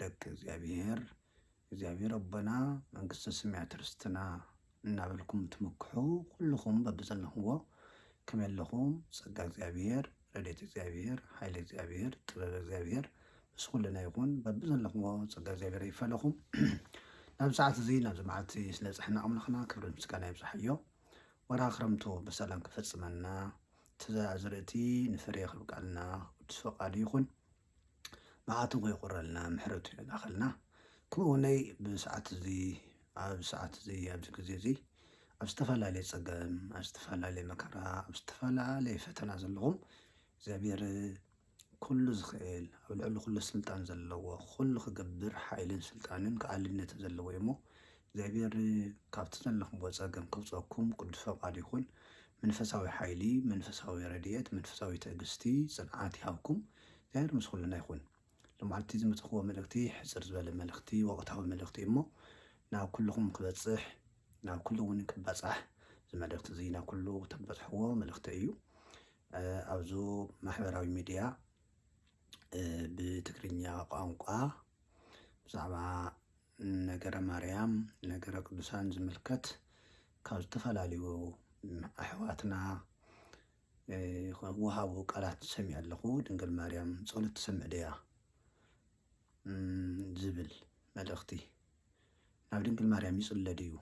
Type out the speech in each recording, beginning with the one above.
ደቂ እግዚኣብሔር እግዚኣብሔር ኣቦና መንግስተ ሰማያት ርስትና እናበልኩም ትምክሑ ኩልኹም በብዘለኹዎ ከመይ ኣለኹም ጸጋ እግዚኣብሔር ረድኤት እግዚኣብሔር ሓይሊ እግዚኣብሔር ጥበብ እግዚኣብሔር ምስ ኩልና ይኹን በብዘለኹዎ ጸጋ እግዚኣብሔር ይፈለኹም ናብ ሰዓት እዚ ናብዚ መዓልቲ ስለ ጽሕና ኣምላኽና ክብሪ ምስጋና ይብዝሓዮ ወርሃ ክረምቱ ብሰላም ክፈጽመና ትዘራ ዝርእቲ ንፍሬ ክብቃልና ቅዱስ ፈቃዱ ይኹን መዓቱ ከይቁረልና ምሕረቱ ይላኣኸልና ከምኡውነይ ብሰዓት እዙይ ኣብ ሰዓት እዙይ ኣብዚ ጊዜ እዙይ ኣብ ዝተፈላለየ ፀገም ኣብ ዝተፈላለየ መከራ ኣብ ዝተፈላለየ ፈተና ዘለኹም እግዚኣብሔር ኩሉ ዝኽእል ኣብ ልዕሊ ኩሉ ስልጣን ዘለዎ ኩሉ ክገብር ሓይልን ስልጣንን ክኣልነትን ዘለዎ እዩሞ እግዚኣብሔር ካብቲ ዘለኽምዎ ጸገም ከውጸኩም ቅዱስ ፈቃዱ ይኹን መንፈሳዊ ሓይሊ መንፈሳዊ ረድኤት መንፈሳዊ ትዕግስቲ ጽንዓት ይሃብኩም እግዚኣብሔር ምስ ኩልና ይኹን ሎማዕልቲ ዝመጸኽዎ መልእኽቲ ሕጽር ዝበለ መልእኽቲ ወቅታዊ መልእኽቲ እዩ እሞ ናብ ኩልኹም ክበጽሕ ናብ ኩሉ እውን ክበጻሕ እዚ መልእኽቲ እዚ ናብ ኩሉ ተበጽሕዎ መልእኽቲ እዩ ኣብዚ ማሕበራዊ ሚዲያ ብትግርኛ ቋንቋ ብዛዕባ ነገረ ማርያም ነገረ ቅዱሳን ዝምልከት ካብ ዝተፈላለዩ ኣሕዋትና ወሃቡ ቃላት ሰሚዐ ኣለኹ ድንግል ማርያም ጸሎት ትሰምዕ ድያ ዝብል መልእኽቲ ናብ ድንግል ማርያም ይጽለ ድዩ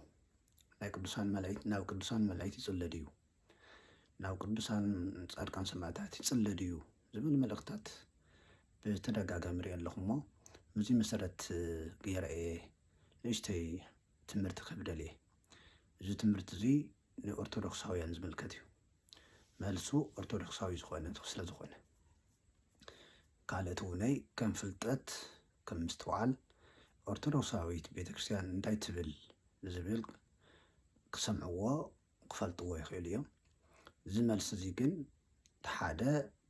ናይ ቅዱሳን መላእክት ናብ ቅዱሳን መላእክት ይጽለ ድዩ ናብ ቅዱሳን ፃድቃን ሰማእታት ይፅለ ድዩ ዝብል መልእኽታት ብተደጋጋሚ ሪኤ ኣለኹ እሞ በዚ መሰረት ገይረ እየ ንእሽተይ ትምህርቲ ክህብ ደልየ። እዚ ትምህርቲ እዚ ንኦርቶዶክሳውያን ዝምልከት እዩ። መልሱ ኦርቶዶክሳዊ ዝኾነ ስለ ዝኾነ ካልእቲ እውነይ ከም ፍልጠት ከም ምስትውዓል ኦርቶዶክሳዊት ቤተክርስትያን እንታይ ትብል ዝብል ክሰምዕዎ ክፈልጥዎ ይኽእሉ እዮም። እዚ መልሲ እዚ ግን እቲ ሓደ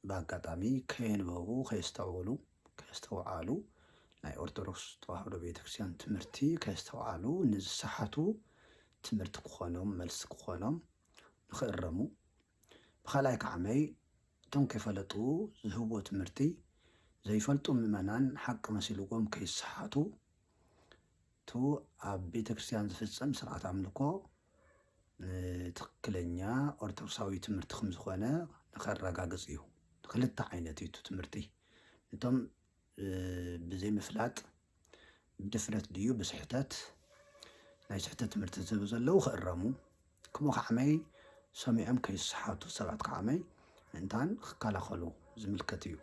ብኣጋጣሚ ከየንበቡ ከየስተውዕሉ ከየስተውዓሉ ናይ ኦርቶዶክስ ተዋህዶ ቤተክርስትያን ትምህርቲ ከየስተውዓሉ ንዝሰሓቱ ትምህርቲ ክኾኖም መልሲ ክኾኖም ንኽእረሙ ብኻልኣይ ከዓመይ እቶም ከይፈለጡ ዝህብዎ ትምህርቲ ዘይፈልጡ ምእመናን ሓቂ መሲልዎም ከይሰሓቱ እቱ ኣብ ቤተ ክርስቲያን ዝፍፀም ስርዓት ኣምልኮ ንትኽክለኛ ኦርቶዶክሳዊ ትምህርቲ ከም ዝኾነ ንኸረጋግፅ እዩ። ንክልተ ዓይነት እዩ እቱ ትምህርቲ እቶም ብዘይምፍላጥ ብድፍረት ድዩ ብስሕተት ናይ ስሕተት ትምህርቲ ዝህቡ ዘለዉ ክእረሙ ከምኡ ከዓመይ ሰሚዖም ከይሰሓቱ ሰባት ከዓመይ ምእንታን ክከላኸሉ ዝምልከት እዩ።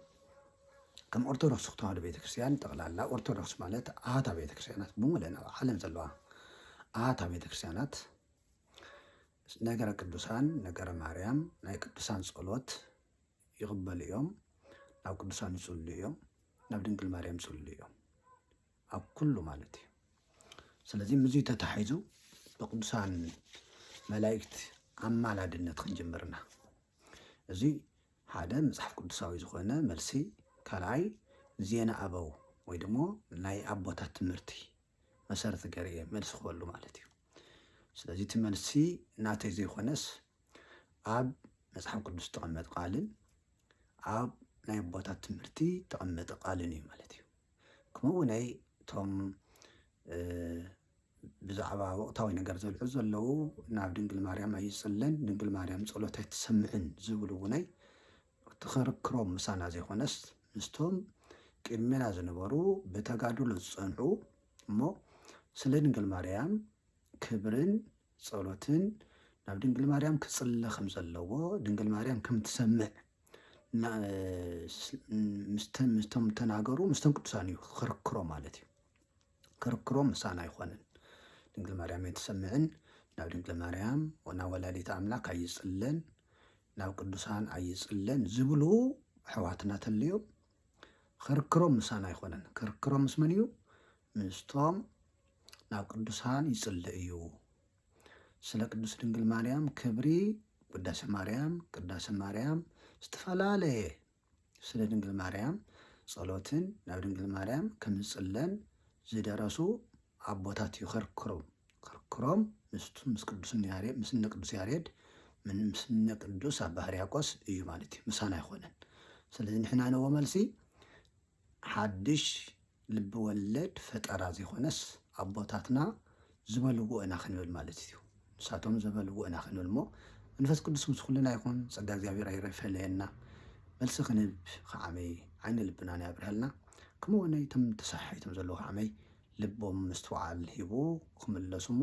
ከም ኦርቶዶክስ ተዋህዶ ቤተክርስትያን ጠቕላላ ኦርቶዶክስ ማለት ኣሃታ ቤተክርስትያናት ብምለን ኣብ ዓለም ዘለዋ ኣሃታ ቤተክርስትያናት ነገረ ቅዱሳን ነገረ ማርያም ናይ ቅዱሳን ጸሎት ይቕበሉ እዮም፣ ናብ ቅዱሳን ይጽልዩ እዮም፣ ናብ ድንግል ማርያም ይጽልዩ እዮም፣ ኣብ ኩሉ ማለት እዩ። ስለዚ ምዙይ ተታሒዙ ብቅዱሳን መላእክት ኣማላድነት ክንጅምር ኢና። እዚ ሓደ መጽሓፍ ቅዱሳዊ ዝኾነ መልሲ፣ ካልኣይ ዜና ኣበው ወይ ደሞ ናይ ኣቦታት ትምህርቲ መሰረት ገይረ እየ መልሲ ክበሉ ማለት እዩ። ስለዚ እቲ መልሲ ናተይ ዘይኮነስ ኣብ መጽሓፍ ቅዱስ ዝተቐመጠ ቃልን ኣብ ናይ ኣቦታት ትምህርቲ ዝተቐመጠ ቃልን እዩ ማለት እዩ ከምኡ ውነይ እቶም ብዛዕባ ወቕታዊ ነገር ዘልዑ ዘለዉ ናብ ድንግል ማርያም ኣይጽለን ድንግል ማርያም ጸሎት ኣይትሰምዕን ዝብሉ ውነይ ትኽርክሮም ምሳና ዘይኮነስ ምስቶም ቅድሜና ዝነበሩ ብተጋድሎ ዝጸንዑ እሞ ስለ ድንግል ማርያም ክብርን ጸሎትን ናብ ድንግል ማርያም ክጽለ ከም ዘለዎ ድንግል ማርያም ከም ትሰምዕ ምስቶም ተናገሩ ምስቶም ቅዱሳን እዩ ክርክሮ ማለት እዩ ክርክሮ ምሳን ኣይኮነን ድንግል ማርያም ኣይትሰምዕን ናብ ድንግል ማርያም ናብ ወላዲት ኣምላክ ኣይጽለን ናብ ቅዱሳን ኣይጽለን ዝብሉ ኣሕዋትና ተልዮም ኽርክሮም ምሳና ኣይኮነን ክርክሮም ምስ መን እዩ ምስቶም ናብ ቅዱሳን ይጽልእ እዩ ስለ ቅዱስ ድንግል ማርያም ክብሪ ውዳሴ ማርያም ቅዳሴ ማርያም ዝተፈላለየ ስለ ድንግል ማርያም ጸሎትን ናብ ድንግል ማርያም ከምዝጽለን ዝደረሱ ኣቦታት እዩ ከርክሮም ከርክሮም ምስቱን ምስ ቅዱስን ያሬድ ምስ እነ ቅዱስ ያሬድ ምን ምስ እነ ቅዱስ ኣባ ሕርያቆስ እዩ ማለት እዩ ምሳና ኣይኮነን ስለዚ ንሕና ነዎ መልሲ ሓድሽ ልቢ ወለድ ፈጠራ ዘይኮነስ ኣቦታትና ዝበልዎ ኢና ክንብል ማለት እዩ ንሳቶም ዘበልዎ ኢና ክንብል እሞ መንፈስ ቅዱስ ምስ ኩልና ይኹን ጸጋ እግዚኣብሔር ኣይረፈለየና መልሲ ክንህብ ከዓመይ ዓይነ ልብና ናይ ኣብርሃልና ከምኡ ወነይ ተም ተሰሓሒቶም ዘለዉ ከዓመይ ልቦም ምስትውዓል ሂቡ ክምለሱ እሞ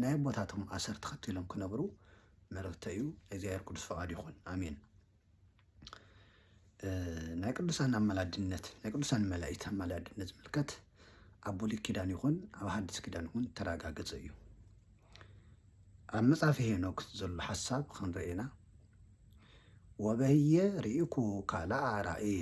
ናይ ኣቦታቶም ኣሰር ተኸቲሎም ክነብሩ መረትተይ እዩ። ናይ እግዚኣብሔር ቅዱስ ፈቃድ ይኹን ኣሜን። ናይ ቅዱሳን ኣማላድነት ናይ ቅዱሳን መላእክት ኣማላድነት ዝምልከት ኣብ ብሉይ ኪዳን ይኹን ኣብ ሓዲስ ኪዳን ይኹን ተረጋገፀ እዩ። ኣብ መጽሐፈ ሄኖክ ዘሎ ሓሳብ ክንርኤና ወበህየ ርኢኩ ካልኣ ራእየ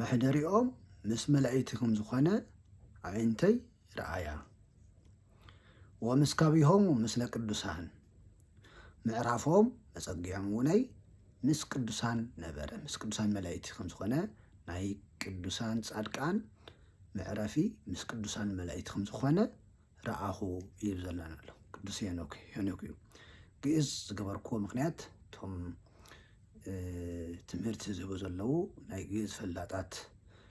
መሕደሪኦም ምስ መላኢቲ ከም ዝኾነ ኣዒንተይ ረኣያ። ወምስካቢሆሙ ምስለ ቅዱሳን ምዕራፎም መጸጊዖም እውነይ ምስ ቅዱሳን ነበረ ምስ ቅዱሳን መላእክቲ ከም ዝኾነ ናይ ቅዱሳን ጻድቃን መዕረፊ ምስ ቅዱሳን መላእክቲ ከም ዝኾነ ረኣኹ እዩ ዘላን ኣሎ ቅዱስ ሄኖክ ሄኖክ እዩ ግእዝ ዝገበርክዎ ምክንያት እቶም ትምህርቲ ዝህቡ ዘለው ናይ ግእዝ ፈላጣት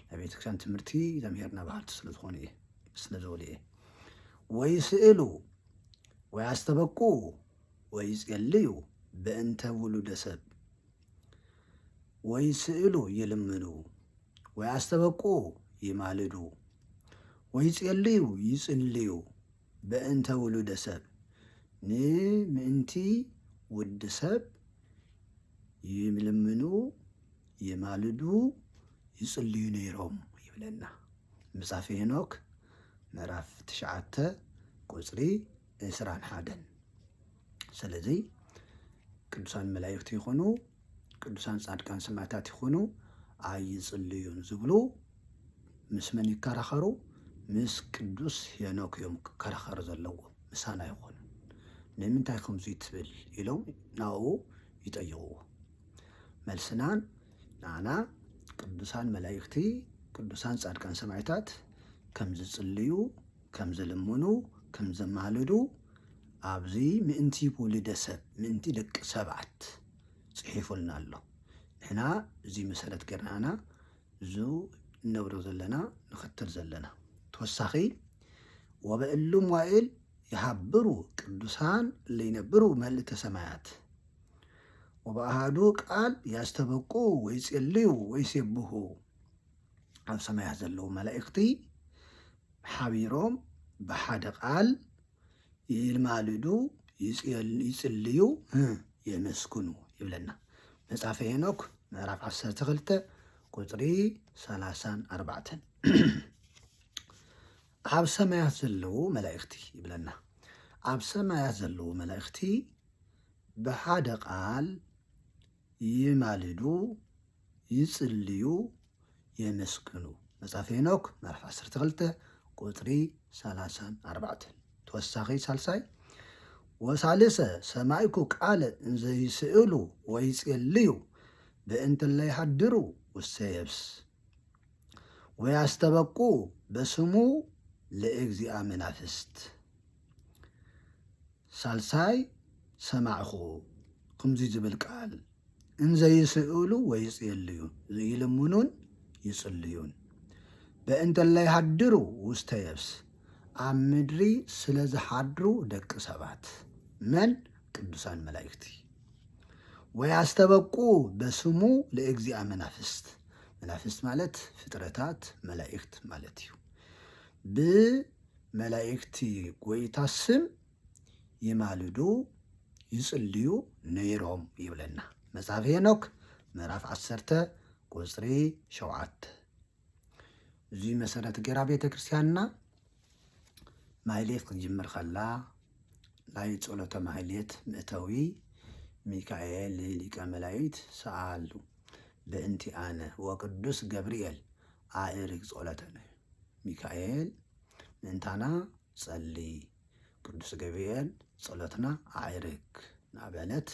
ናይ ቤተክርስትያን ትምህርቲ ዘምሄርና ባህርቲ ስለዝኾኑ እየ ስለዝበሉ እየ ወይ ስእሉ ወይ ኣስተበቁ ወይ ጸልዩ በእንተ ውሉደ ሰብ ወይ ስእሉ ይልምኑ ወይ ኣስተበቁ ይማልዱ ወይ ጼልዩ ይጽልዩ በእንተ ውሉደ ሰብ ን ምእንቲ ውዲ ሰብ ይልምኑ ይማልዱ ይጽልዩ ነይሮም ይብለና ምጻፊ ሄኖክ ምዕራፍ ትሽዓተ ቁጽሪ ዕስራን ሓደን። ስለዚ ቅዱሳን መላእኽቲ ይኹኑ ቅዱሳን ጻድቃን ሰማዕታት ይኹኑ ኣይጽልዩን ዝብሉ ምስ መን ይከራኸሩ? ምስ ቅዱስ ሄኖክ እዮም ክከራኸሩ ዘለዎ ምሳና ይኹኑ። ንምንታይ ከምዚ ትብል ኢሎም ናብኡ ይጠይቕዎ። መልስናን ንዓና ቅዱሳን መላእኽቲ ቅዱሳን ጻድቃን ሰማዕታት ከም ዝጽልዩ ከም ዝልምኑ ከም ዘማልዱ ኣብዚ ምእንቲ ውሉደ ሰብ ምእንቲ ደቂ ሰባት ጽሒፉልና ኣሎ። ንሕና እዚ መሰረት ጌርና ኢና እዙ እነብሮ ዘለና ንኸተል ዘለና። ተወሳኺ ወበእሉ መዋእል ይሃብሩ ቅዱሳን ለይነብሩ መልእተ ሰማያት ወበኣሃዱ ቃል ያስተበቁ ወይጼልዩ ወይሴብሁ ኣብ ሰማያት ዘለዉ መላእኽቲ ሓቢሮም ብሓደ ቃል ይማልዱ፣ ይጽልዩ፣ የመስግኑ ይብለና መጽሓፈ ሄኖክ ምዕራፍ 12 ቁጽሪ 3 4 ኣብ ሰማያት ዘለዉ መላእኽቲ ይብለና ኣብ ሰማያት ዘለዉ መላእኽቲ ብሓደ ቃል ይማልዱ፣ ይጽልዩ፣ የመስግኑ። መጽሓፈ ሄኖክ ምዕራፍ ዓሰርተ ክልተ ቁጽሪ ሰላሳን ኣርባዕተን። ተወሳኺ ሳልሳይ ወሳልሰ ሰማይኩ ቃለ እንዘ ይስእሉ ወይጼልዩ በእንተ እለ ይሃድሩ ውስተ የብስ ወያስተበቁ በስሙ ለእግዚኣ መናፍስት ሳልሳይ ሰማዕኹ ኽምዙይ ዝብል ቃል እንዘይስእሉ ወይጽየልዩ ዝይልምኑን ይጽልዩን በእንተ ለይሃድሩ ውስተ የብስ ኣብ ምድሪ ስለ ዝሓድሩ ደቂ ሰባት መን ቅዱሳን መላእክቲ ወያስተበቁ በስሙ ለእግዚኣ መናፍስት መናፍስት ማለት ፍጥረታት መላእክት ማለት እዩ ብ መላእክቲ ጐይታ ስም ይማልዱ ይጽልዩ ነይሮም ይብለና መጽሓፍ ሄኖክ ምዕራፍ ዓሰርተ ቁጽሪ ሸውዓተ እዙይ መሰረት ገይራ ቤተ ክርስቲያንና ማሕሌት ክንጅምር ከላ ናይ ጸሎተ ማሕሌት ምእተዊ ሚካኤል ሊቀ መላእክት ሰኣሉ በእንቲ ኣነ ወቅዱስ ገብርኤል ኣእርግ ጸሎተነ ሚካኤል ምእንታና ጸሊ ቅዱስ ገብርኤል ጸሎትና ኣዕርግ ናበለት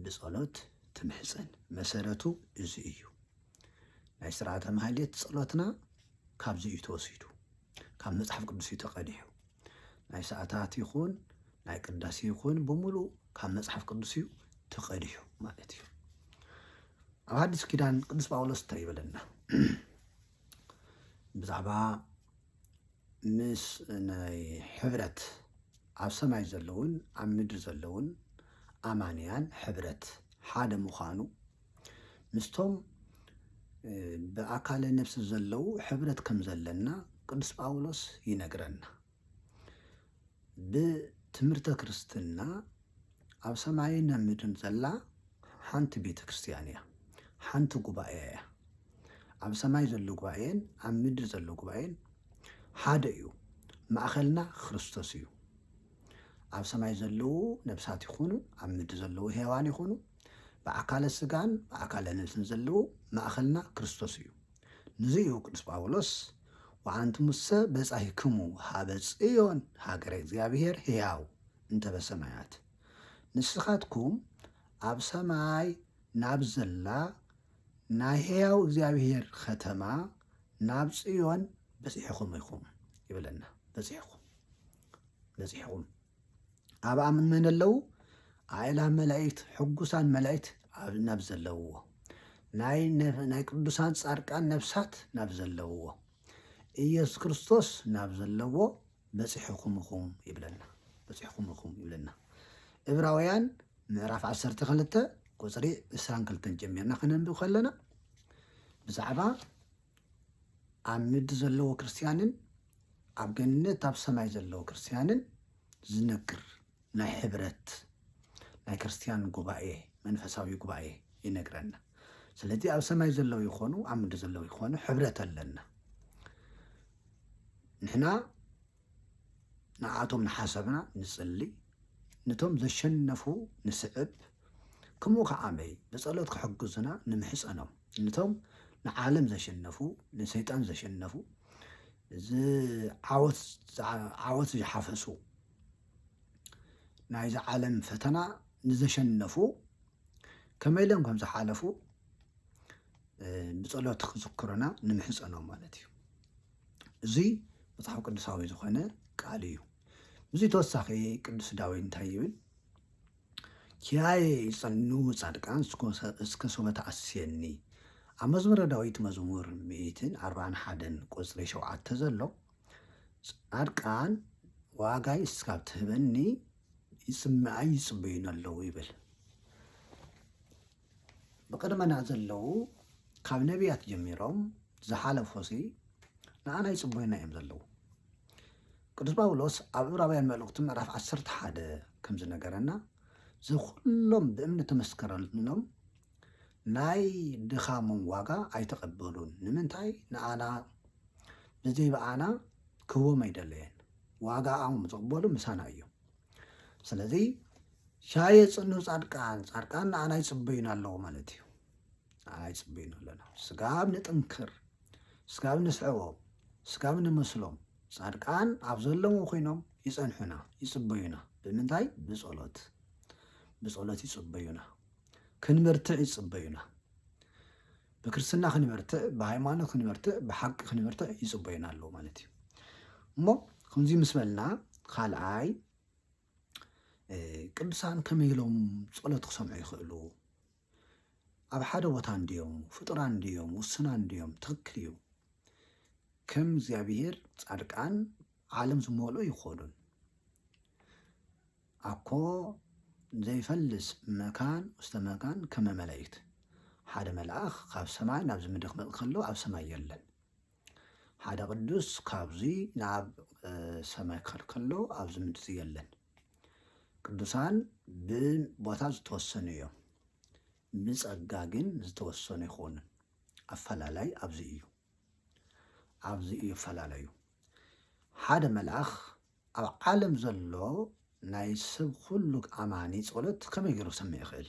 ብጸሎት ትምሕጸን መሰረቱ እዚ እዩ። ናይ ስርዓተ ማህሌት ጸሎትና ካብዚ እዩ ተወሲዱ። ካብ መጽሓፍ ቅዱስ እዩ ተቐዲሑ። ናይ ሰዓታት ይኹን ናይ ቅዳሴ ይኹን ብምሉእ ካብ መጽሓፍ ቅዱስ እዩ ተቐዲሑ ማለት እዩ። ኣብ ሓድሽ ኪዳን ቅዱስ ጳውሎስ እንታይ ይበለና ብዛዕባ ምስ ናይ ሕብረት ኣብ ሰማይ ዘለውን ኣብ ምድሪ ዘለውን ኣማንያን ሕብረት ሓደ ምዃኑ ምስቶም ብኣካለ ነፍሲ ዘለዉ ሕብረት ከም ዘለና ቅዱስ ጳውሎስ ይነግረና። ብትምህርተ ክርስትና ኣብ ሰማይን ኣብ ምድርን ዘላ ሓንቲ ቤተ ክርስቲያን እያ፣ ሓንቲ ጉባኤ እያ። ኣብ ሰማይ ዘሎ ጉባኤን ኣብ ምድሪ ዘሎ ጉባኤን ሓደ እዩ። ማእኸልና ክርስቶስ እዩ። ኣብ ሰማይ ዘለዉ ነብሳት ይኹኑ ኣብ ምድሪ ዘለዉ ሔዋን ይኹኑ ብኣካለ ስጋን ብኣካለ ነፍስን ዘለዎ ማእኸልና ክርስቶስ እዩ። ንዙይ እዩ ቅዱስ ጳውሎስ ወኣንትሙሰ በጻሂክሙ ሀበ ጽዮን ሃገረ እግዚኣብሔር ሕያው እንተ በሰማያት ንስኻትኩም ኣብ ሰማይ ናብ ዘላ ናይ ሕያው እግዚኣብሔር ኸተማ ናብ ጽዮን በጺሕኹም ኢኹም ይብለና። በጺሕኹም በጺሕኹም ኣብኣ መን ኣለዉ? ኣእላፍ መላእክት ሕጉሳን መላእክት ናብ ዘለውዎ ናይ ቅዱሳን ጻድቃን ነፍሳት ናብ ዘለውዎ ኢየሱስ ክርስቶስ ናብ ዘለዎ በጺሕኹም ኢኹም ይብለና በጺሕኹም ኢኹም ይብለና እብራውያን ምዕራፍ 12 ቁፅሪ 22 ጀሚርና ከነንብብ ከለና ብዛዕባ ኣብ ምድሪ ዘለዎ ክርስትያንን ኣብ ገነት ኣብ ሰማይ ዘለዉ ክርስትያንን ዝነግር ናይ ሕብረት ናይ ክርስትያን ጉባኤ መንፈሳዊ ጉባኤ ይነግረና። ስለዚ ኣብ ሰማይ ዘለዉ ይኾኑ ኣብ ምድሪ ዘለዉ ይኾኑ ሕብረት ኣለና። ንሕና ንዓቶም ንሓሰብና ንጽሊ፣ ንቶም ዘሸነፉ ንስዕብ፣ ከምኡ ከዓመይ ብጸሎት ክሕግዙና ንምሕጸኖም ንቶም ንዓለም ዘሸነፉ ንሰይጣን ዘሸነፉ ዓወት ዝሓፈሱ ናይዚ ዓለም ፈተና ንዘሸነፉ ከመይ ኢሎም ከም ዝሓለፉ ብጸሎት ክዝክሩና ንምሕጸኖም ማለት እዩ እዚ መጽሓፍ ቅዱሳዊ ዝኾነ ቃል እዩ እዚ ተወሳኺ ቅዱስ ዳዊት እንታይ ይብል ኪራየ ይጸኑ ጻድቃን እስከ ሶበ ተኣስየኒ ኣብ መዝሙረ ዳዊት መዝሙር ሚእትን ኣርባን ሓደን ቁጽሪ ሸውዓተ ዘሎ ጻድቃን ዋጋይ እስካብ ትህበኒ ይጽምኣይ ይጽበዩኒ ኣለዉ ይብል ብቅድመና ዘለዉ ካብ ነቢያት ጀሚሮም ዝሓለፉ ሲ ንኣና ይጽበዩና እዮም ዘለዉ ቅዱስ ጳውሎስ ኣብ ዕብራውያን መልእኽቱ ምዕራፍ ዓሰርተ ሓደ ከም ዝነገረና እዚ ኩሎም ብእምኒ ተመስከረሎም ናይ ድኻሞም ዋጋ ኣይተቐበሉን ንምንታይ ንኣና ብዘይ ብኣና ክህቦም ኣይደለየን ዋጋኦም ዝቕበሉ ምሳና እዮም ስለዚ ሻየ ጽኑ ጻድቃን ጻድቃን ንኣና ይጽበዩን ኣለዉ ማለት እዩ ንኣና ይጽበዩን ኣለና ስጋብ ንጥንክር ስጋብ ንስዕቦም ስጋብ ንመስሎም ጻድቃን ኣብ ዘለውዎ ኮይኖም ይጸንሑና ይጽበዩና ብምንታይ ብጸሎት ብጸሎት ይጽበዩና ክንበርትዕ ይጽበዩና ብክርስትና ክንበርትዕ ብሃይማኖት ክንበርትዕ ብሓቂ ክንበርትዕ ይጽበዩና ኣለዉ ማለት እዩ እሞ ከምዚ ምስ በልና ካልኣይ ቅዱሳን ከመይ ኢሎም ጸሎት ክሰምዑ ይኽእሉ? ኣብ ሓደ ቦታ እንድዮም፣ ፍጡራን እንድዮም፣ ውሱናን እንድዮም፣ ትኽክል እዩ። ከም እግዚኣብሔር ጻድቃን ዓለም ዝመልኡ ይኾኑን። ኣኮ ዘይፈልስ መካን ውስተ መካን ከመ መላእክት ሓደ መልኣኽ ካብ ሰማይ ናብዚ ምድሪ ክመጽእ ከሎ ኣብ ሰማይ የለን። ሓደ ቅዱስ ካብዙይ ናብ ሰማይ ክኸድ ከሎ ኣብዚ ምድሪ የለን። ቅዱሳን ብቦታ ዝተወሰኑ እዮም፣ ብጸጋ ግን ዝተወሰኑ ይኾኑን። ኣፈላላይ ኣብዚ እዩ፣ ኣብዚ እዩ ፈላለዩ። ሓደ መልኣኽ ኣብ ዓለም ዘሎ ናይ ሰብ ኩሉ ኣማኒ ጸሎት ከመይ ገይሩ ክሰምዕ ይኽእል?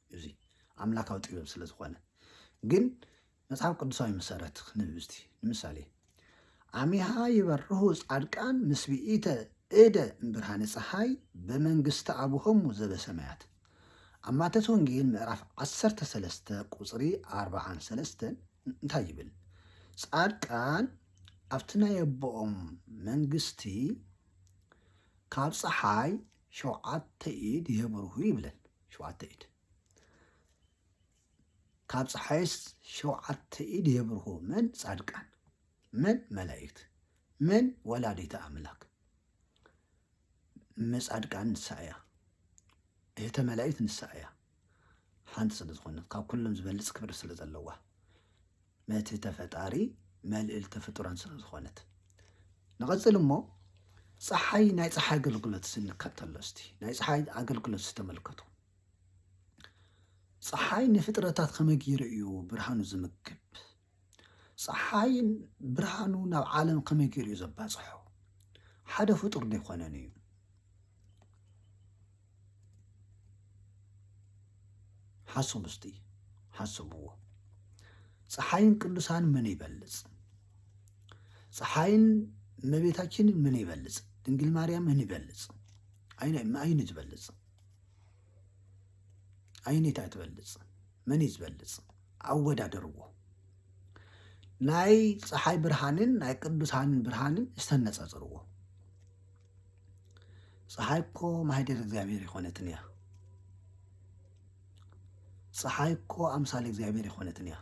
እዚ ኣምላካዊ ጥበብ ስለ ዝኾነ ግን መጽሓፍ ቅዱሳዊ መሰረት ክንህብ እስቲ ንምሳሌ ኣሚሃ ይበርሁ ጻድቃን ምስ ብኢተ እደ ብርሃነ ፀሓይ በመንግስተ ኣቡሆሙ ዘበሰማያት ኣብ ማቴዎስ ወንጌል ምዕራፍ 13 ቁፅሪ 43 እንታይ ይብል? ጻድቃን ኣብቲ ናይ ኣቦኦም መንግስቲ ካብ ፀሓይ ሸውዓተ ኢድ የብርሁ ይብለን። ሸውዓተ ኢድ ካብ ፀሓይስ ሸውዓተ ኢድ የብርሁ መን ፃድቃን መን መላእክት መን ወላዲተ ኣምላክ መፃድቃን ንሳ እያ እህተ መላእክት ንሳ እያ ሓንቲ ስለ ዝኾነት ካብ ኩሎም ዝበልፅ ክብሪ ስለ ዘለዋ ነቲ ተፈጣሪ መልእልቲ ፍጡራን ስለዝኾነት። ንቐጽል እሞ ፀሓይ ናይ ፀሓይ ኣገልግሎት ስንከተሎ እስቲ ናይ ፀሓይ ኣገልግሎት ዝተመልከቱ ፀሓይ ንፍጥረታት ከመይ ገይሩ እዩ ብርሃኑ ዝምግብ ፀሓይ ብርሃኑ ናብ ዓለም ከመይ ገይሩ እዩ ዘባፅሖ ሓደ ፍጡር ዘይኮነን እዩ ሓሶም እስቲ ሓሰብዎ ፀሓይን ቅዱሳን ምን ይበልፅ ፀሓይን እመቤታችን ምን ይበልፅ ድንግል ማርያም ምን ይበልፅ ኣይን ዝበልፅ ኣይኔታ ትበልፅ መን እዩ ዝበልፅ ኣወዳደርዎ ናይ ፀሓይ ብርሃንን ናይ ቅዱሳንን ብርሃንን ዝተነፃፅርዎ ፀሓይ እኮ ማህደር እግዚኣብሔር ይኮነትን እያ ፀሓይ እኮ ኣምሳል እግዚኣብሔር ይኮነትን እያ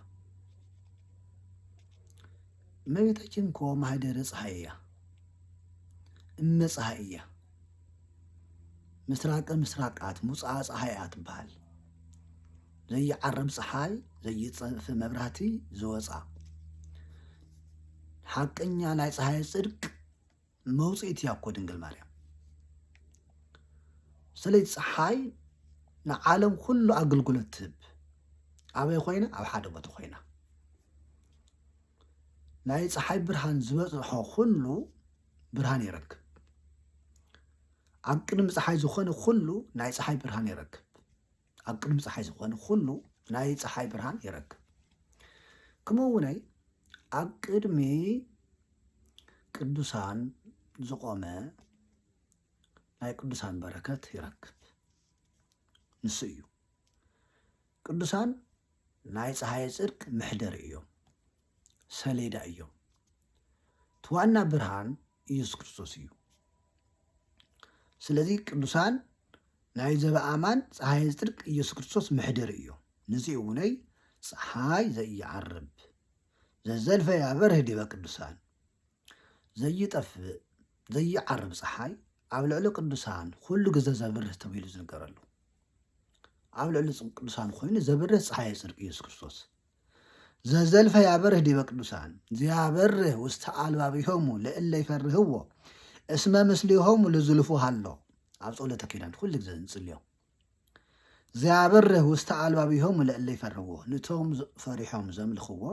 እመቤታችን እኮ ማህደረ ፀሐይ እያ እመ ፀሐይ እያ ምስራቀ ምስራቃት ሙፅኣ ፀሐይ እያ ትበሃል ዘይዓርብ ፀሓይ ዘይፀንፍ መብራህቲ ዝወፃ ሓቀኛ ናይ ፀሐይ ፅድቅ መውፅኢት እያ እኮ ድንግል ማርያም ስለዚ ፀሓይ ንዓለም ኩሉ ኣገልግሎት ትህብ ኣበይ ኮይና ኣብ ሓደ ቦታ ኮይና ናይ ፀሓይ ብርሃን ዝበፅሖ ኩሉ ብርሃን ይረክብ ኣብ ቅድሚ ፀሓይ ዝኾነ ኩሉ ናይ ፀሓይ ብርሃን ይረክብ ኣብ ቅድሚ ፀሓይ ዝኾነ ኩሉ ናይ ፀሓይ ብርሃን ይረክብ ክምኡ ውነይ ኣብ ቅድሚ ቅዱሳን ዝቆመ ናይ ቅዱሳን በረከት ይረክብ ንሱ እዩ ቅዱሳን ናይ ፀሓይ ፅድቅ መሕደሪ እዮም ሰሌዳ እዮም እቲ ዋና ብርሃን ኢየሱስ ክርስቶስ እዩ። ስለዚ ቅዱሳን ናይ ዘበኣማን ፀሓይ ዝጥርቅ ኢየሱስ ክርስቶስ መሕደሪ እዩ ንዚ እውነይ ፀሓይ ዘይዓርብ ዘዘልፈ ያበርህ ዲበ ቅዱሳን ዘይጠፍእ ዘይዓርብ ፀሓይ ኣብ ልዕሊ ቅዱሳን ኩሉ ግዘ ዘብርህ ተብሂሉ ዝንገረሉ ኣብ ልዕሊ ቅዱሳን ኮይኑ ዘብርህ ፀሓይ ፅድቂ ኢየሱስ ክርስቶስ ዘዘልፈ ያበርህ ዲበ ቅዱሳን ዘያበርህ ውስተ አልባቢሆሙ ለእለ ይፈርህዎ እስመ ምስሌሆሙ ልዝልፉ ሃሎ ኣብ ጸሎተ ኪዳን ኩሉ ግዜ ንጽልዮ ዘያበርህ ውስተ አልባቢሆሙ ለእለ ይፈርህዎ ንቶም ፈሪሖም ዘምልኽዎ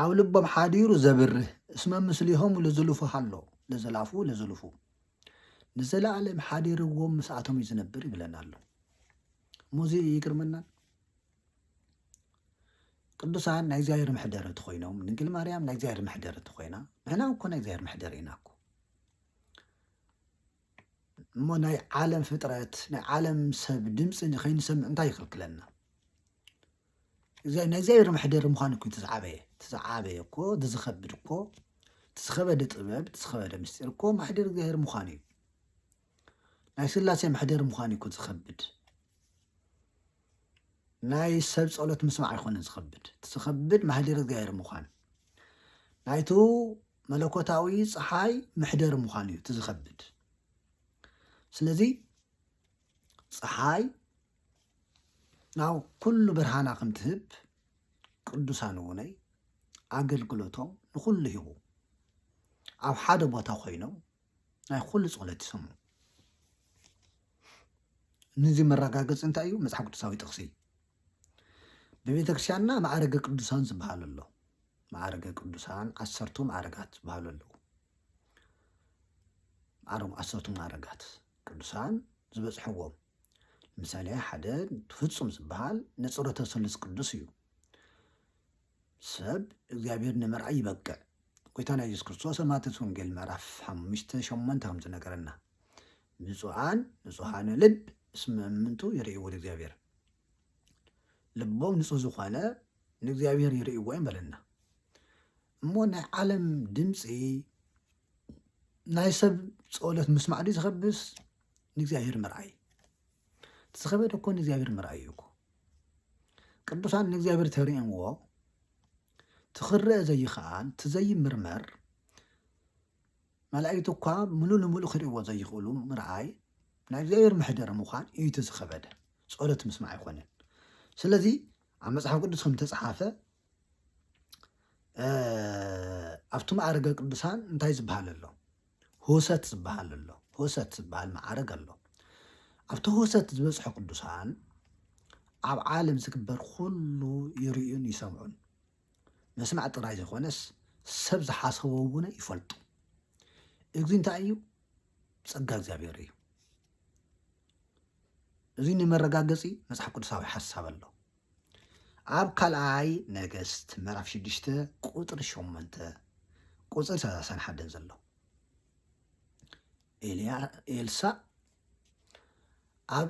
ኣብ ልቦም ሓዲሩ ዘብርህ እስመ ምስሌሆሙ ልዝልፉ ሃሎ ለዘላፉ ለዝልፉ ንዘለዓለም ሓዲርዎም ምስኣቶም እዩ ዝነብር ይብለና ኣሎ እሞዚ ይግርመናል ቅዱሳን ናይ እግዚኣብሔር መሕደሪ እንተኾይኖም ድንግል ማርያም ናይ እግዚኣብሔር መሕደሪ እንተኾይና ንሕና እኮ ናይ እግዚኣብሔር መሕደሪ ኢና እኮ እሞ ናይ ዓለም ፍጥረት ናይ ዓለም ሰብ ድምፂ ከይንሰምዕ እንታይ ይኽልክለና? ናይ እግዚኣብሔር መሕደሪ ምዃን እኮ ተዝዓበየ ተዝዓበየ እኮ ዝኸብድ እኮ ዝኸበደ ጥበብ ዝኸበደ ምስጢር እኮ ማሕደር እግዚኣብሔር ምዃን እዩ። ናይ ስላሴ መሕደሪ ምዃን እዩ እኮ ዝኸብድ ናይ ሰብ ጸሎት ምስማዕ ኣይኮነን ዝኸብድ እቲ ዝኸብድ ማህደሪ እግዚኣብሔር ምዃን ናይቱ መለኮታዊ ፀሓይ መሕደሪ ምዃን እዩ እቲ ዝኸብድ ስለዚ ፀሓይ ናብ ኩሉ ብርሃና ከም ትህብ ቅዱሳን እውነይ ኣገልግሎቶም ንኹሉ ሂቡ ኣብ ሓደ ቦታ ኮይኖም ናይ ኩሉ ጸሎት ይሰሙ ንዚ መረጋገጺ እንታይ እዩ መጽሓፍ ቅዱሳዊ ጥቕሲ ብቤተ ክርስቲያንና ማዕረገ ቅዱሳን ዝበሃል ኣሎ ማዕረገ ቅዱሳን ዓሰርቱ ማዕረጋት ዝበሃሉ ኣለዉ ዓረም ዓሰርቱ ማዕረጋት ቅዱሳን ዝበጽሕዎም ምሳሌ ሓደ ፍጹም ዝበሃል ንጽረተ ስሉስ ቅዱስ እዩ ሰብ እግዚኣብሔር ንምርኣይ ይበቅዕ። ጎይታና ኢየሱስ ክርስቶስ ኣብ ማቴዎስ ወንጌል ምዕራፍ ሓሙሽተ ሸሞንተ ከም ዝነገረና ብፁዓን ንጹሃነ ልብ እስመ እምንቱ ይርእይዎ ለእግዚኣብሔር ልቦም ንጹህ ዝኾነ ንእግዚኣብሔር ይርእይዎ እዮም በለና እሞ ናይ ዓለም ድምፂ ናይ ሰብ ፀሎት ምስማዕ ድዩ ዝኸብስ ንእግዚኣብሔር ምርኣይ ዝኸበደ እኮ ንእግዚኣብሔር ምርኣዩ እኮ ቅዱሳን ንእግዚኣብሔር ተርእምዎ ትኽረአ ዘይኸኣል ትዘይምርመር መላእክት እኳ ምሉ ንምሉ ክርእዎ ዘይኽእሉ ምርኣይ ናይ እግዚኣብሔር መሕደሪ ምዃን እዩ እቲ ዝኸበደ ጸሎት ምስማዕ ኣይኮነን ስለዚ ኣብ መጽሓፍ ቅዱስ ከም ተጽሓፈ ኣብቲ መዓርገ ቅዱሳን እንታይ ዝበሃል ኣሎ? ህውሰት ዝበሃል ኣሎ። ህውሰት ዝበሃል መዓርግ ኣሎ። ኣብቲ ህውሰት ዝበፅሑ ቅዱሳን ኣብ ዓለም ዝግበር ኩሉ ይርእዩን ይሰምዑን መስማዕ ጥራይ ዘይኮነስ ሰብ ዝሓሰቦ እውን ይፈልጡ። እዚ እንታይ እዩ? ጸጋ እግዚኣብሔር እዩ። እዚ ንመረጋገፂ መፅሓፍ ቅዱሳዊ ሓሳብ ኣሎ። ኣብ ካልኣይ ነገስት ምዕራፍ ሽዱሽተ ቁጽሪ ሸሞንተ ቁጽሪ ሰላሳን ሓደን ዘሎ ኤልሳእ ኣብ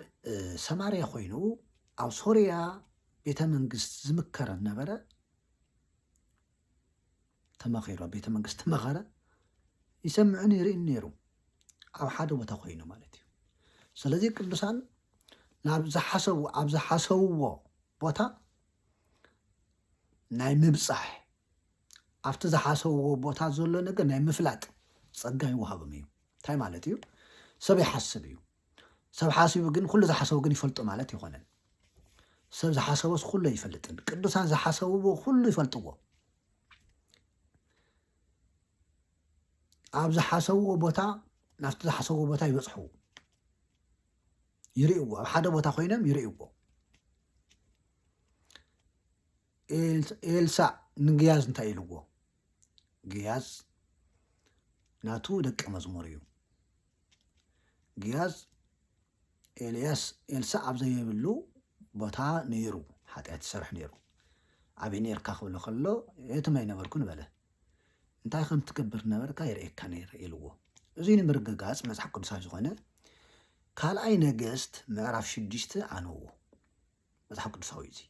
ሰማርያ ኮይኑ ኣብ ሶርያ ቤተ መንግስት ዝምከረ ነበረ ተማኺሩ ኣብ ቤተ መንግስቲ መኸረ ይሰምዕን ይርእን ነይሩ ኣብ ሓደ ቦታ ኮይኑ ማለት እዩ ስለዚ ቅዱሳን ናብ ዝሓሰቡ ኣብ ዝሓሰብዎ ቦታ ናይ ምብፃሕ ኣብቲ ዝሓሰብዎ ቦታ ዘሎ ነገር ናይ ምፍላጥ ፀጋ ይወሃብም እዩ እንታይ ማለት እዩ ሰብ ይሓስብ እዩ ሰብ ሓሲቡ ግን ኹሉ ዝሓሰቡ ግን ይፈልጡ ማለት ኣይኮነን። ሰብ ዝሓሰቦስ ኹሉ ኣይፈልጥን። ቅዱሳን ዝሓሰብዎ ኹሉ ይፈልጥዎ። ኣብ ዝሓሰብዎ ቦታ ናብቲ ዝሓሰብዎ ቦታ ይበፅሑ ይርእዎ ኣብ ሓደ ቦታ ኮይኖም ይርእዎ ኤልሳዕ ንግያዝ እንታይ ኢልዎ? ግያዝ ናቱ ደቀ መዝሙር እዩ። ግያዝ ኤልያስ ኤልሳዕ ኣብ ዘይብሉ ቦታ ነይሩ ሓጢኣት ይሰርሕ ነይሩ። ኣበይ ነርካ ክብሎ ከሎ የትም ኣይነበርኩን በለ። እንታይ ከም ትገብር ነበርካ ይርእየካ ነይረ ኢልዎ። እዚ ንምርግጋጽ መጽሓፍ ቅዱሳዊ ዝኾነ ካልኣይ ነገስት ምዕራፍ ሽዱሽተ ኣንብቡ። መጽሓፍ ቅዱሳዊ እዩ እዚ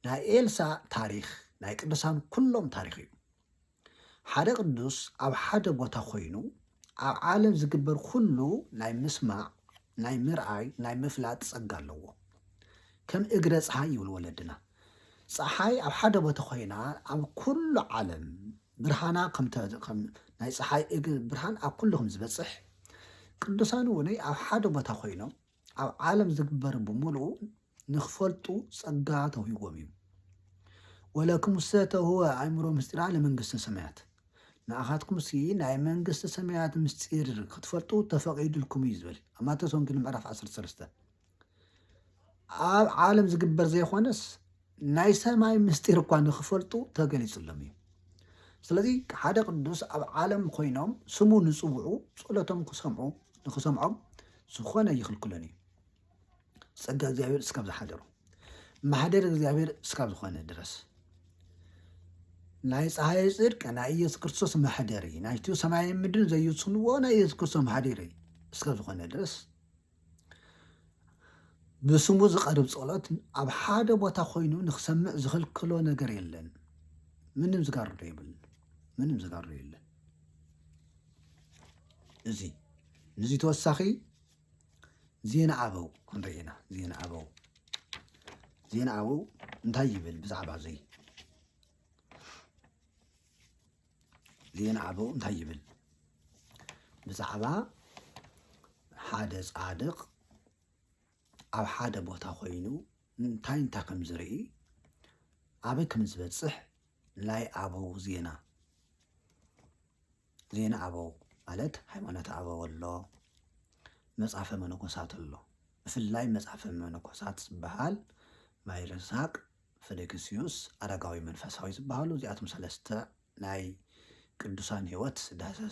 ናይ ኤልሳ ታሪኽ ናይ ቅዱሳን ኩሎም ታሪኽ እዩ ሓደ ቅዱስ ኣብ ሓደ ቦታ ኮይኑ ኣብ ዓለም ዝግበር ኩሉ ናይ ምስማዕ ናይ ምርኣይ ናይ ምፍላጥ ጸጋ ኣለዎ ከም እግረ ፀሓይ ይብሉ ወለድና ፀሓይ ኣብ ሓደ ቦታ ኮይና ኣብ ኩሉ ዓለም ብርሃና ናይ ፀሓይ እግር ብርሃን ኣብ ኩሉ ከም ዝበፅሕ ቅዱሳን እውን ኣብ ሓደ ቦታ ኮይኖም ኣብ ዓለም ዝግበር ብምሉኡ ንክፈልጡ ጸጋ ተውሂቦም እዩ። ወለክሙሰ ተውህበ ኣእምሮ ምስጢራ ለመንግስተ ሰማያት፣ ንኣኻትኩምሲ ናይ መንግስተ ሰማያት ምስጢር ክትፈልጡ ተፈቒዱልኩም እዩ ዝብል ኣብ ማቴዎስ ወንጌል ምዕራፍ 13 ኣብ ዓለም ዝግበር ዘይኮነስ ናይ ሰማይ ምስጢር እኳ ንኽፈልጡ ተገሊጹሎም እዩ። ስለዚ ሓደ ቅዱስ ኣብ ዓለም ኮይኖም ስሙ ንጽውዑ ጸሎቶም ክሰምዑ ንኽሰምዖም ዝኾነ ይኽልክሎን እዩ። ጸጋ እግዚኣብሔር እስካብ ዝሓደሩ ማሕደር እግዚኣብሔር እስካብ ዝኾነ ድረስ ናይ ፀሓይ ጽድቅ ናይ ኢየሱስ ክርስቶስ ማሕደሪ ናይቲ ሰማይን ምድርን ዘዩስንዎ ናይ ኢየሱስ ክርስቶስ ማሕደሪ እስከ ዝኾነ ድረስ ብስሙ ዝቐርብ ጸሎት ኣብ ሓደ ቦታ ኮይኑ ንክሰምዕ ዝኽልክሎ ነገር የለን። ምንም ዝጋርዶ የብልን። ምንም ዝጋርዶ የለን። እዚ ንዚ ተወሳኺ ዜና ኣበው ክንርኢ ኢና። ዜና ኣበው ዜና ኣበው እንታይ ይብል ብዛዕባ እዚ ዜና ኣበው እንታይ ይብል? ብዛዕባ ሓደ ጻድቕ ኣብ ሓደ ቦታ ኮይኑ እንታይ እንታይ ከም ዝርኢ ኣበይ ከም ዝበጽሕ ናይ ኣበው ዜና ዜና ኣበው ማለት ሃይማኖት ኣበው ኣሎ፣ መጽሐፈ መነኮሳት ኣሎ። ብፍላይ መጽሐፈ መነኮሳት ዝበሃል ማይ ረሳቅ ፍልግስዩስ ኣረጋዊ መንፈሳዊ ዝበሃሉ እዚኣቶም ሰለስተ ናይ ቅዱሳን ሕይወት ዳህሰስ።